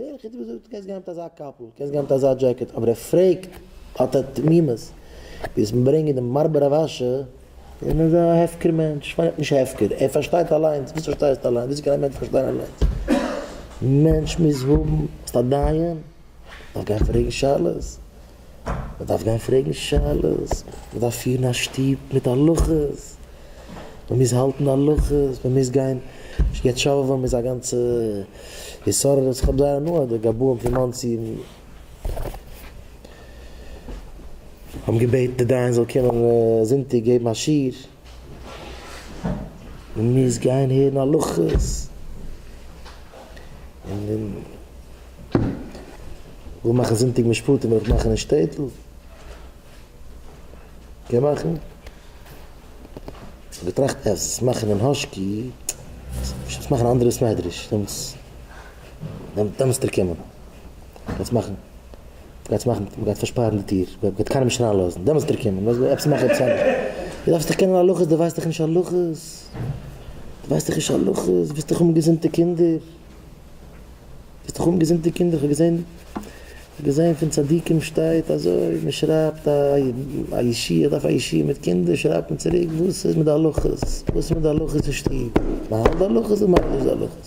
דער יחיד האט געזאגט, קענסט גיין מיט אזא קאפל, קענסט גיין מיט אזא דזשעקעט, אבער ער פרעגט האט ער תמימות, וועסט מיר ברענגען דעם מר ברבש ע? און איז א הפקר מענטש, פארט נישט הפקר, ער פארשטייט אליינס, וואס פארשטייסטו אליינס, וויאזוי קען א מענטש פארשטיין אליינס, מענטש מוז האבן, ביסט א דיין, דארף גיין פרעגן שאלות. מ'דארף גיין פרעגן שאלות, מ'דארף פירן א שטוב מיט הלכות, מ'מוז האלטן הלכות, מ'מוז גיין יעצט שאווען איז א גאנצע התעוררות, איך האב זייער הנאה די גבאים פון מאנסי האבן געבעטן די דיין זאל קומען זונטאג געבן א שיעור. מען מוז גיין הערן הלכות און און וויל מאכן זונטאג משפטים וויל איך מאכן אין שטעטל קען מאכן געטראכט אז עס מאכן אין האשקי עס מאכן אנדערע סמעדרעש דעמאלטס דעמאלטס דארפסטו קומען קענסט מאכן גייטס מאכן, מ'גייט פארשפארן די טיר, מ'גייט קיינעם נישט אריין לאזן, דעמאלטס וועט ער קומען, וואס וועסטו מאכן עפעס אנדערש, דו דארפסט דאך קענען הלכות, דו ווייסט דאך נישט הלכות, דו ווייסט דאך נישט הלכות, דו ווילסט דאך האבן געזונטע קינדער, דו ווילסט דאך האבן געזונטע קינדער, כ'האב געזען, כ'האב געזען פון צדיקים שטייט אזוי, מ'שרייבט א א ישי, איך דארף א ישי מיט קינדער, שרייבט מען צוריק, וואס איז מיט די הלכות, וואס איז מיט די הלכות אין שטוב, מ'האלט די הלכות אדער מ'האלט נישט די הלכות.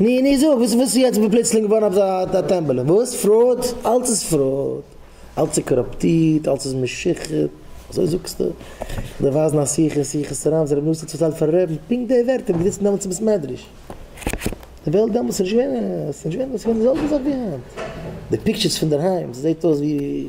נו נו זאג וואס איז יעצט פלוצלינג געווארן אזא טעמבעלע? וואס? פראוד? אלץ איז פראוד, אלץ איז קאראפטירט, אלץ איז משוחד, אזוי זאגסטו? איך דארף ווייזן א שיחה אין שיחות הרמ ז רבי נתן צוזאגט פארן רעבן פונקט די ווערטער וואס געזיצן דעמאלטס אין בית מדרש. די וועלט דעמאלטס איז נישט געווען, ס'איז נישט געווען, ס'איז געווען די זעלבע זאך ווי היינט. די פיקטשערס פונדערהיים, ס'זעט אויס ווי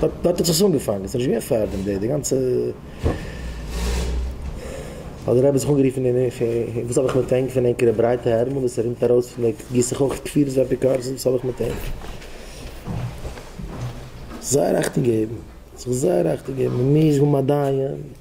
דארט האט זיך עס אנגעפאנגען, ס'איז נישט געווען פארדעם, די גאנצע האט דער רבי זיך אנגערופן און וואס האב איך מיט ענק פון ענקערע ברייטע ארעמען וואס ער רינט ארויס פון די גיסט זיך אויך כפירות ואפיקורסות וואס האב איך מיט ענק. זייער אכטונג געבן, זיך זייער אכטונג געבן, מ'מוז האבן א דיין.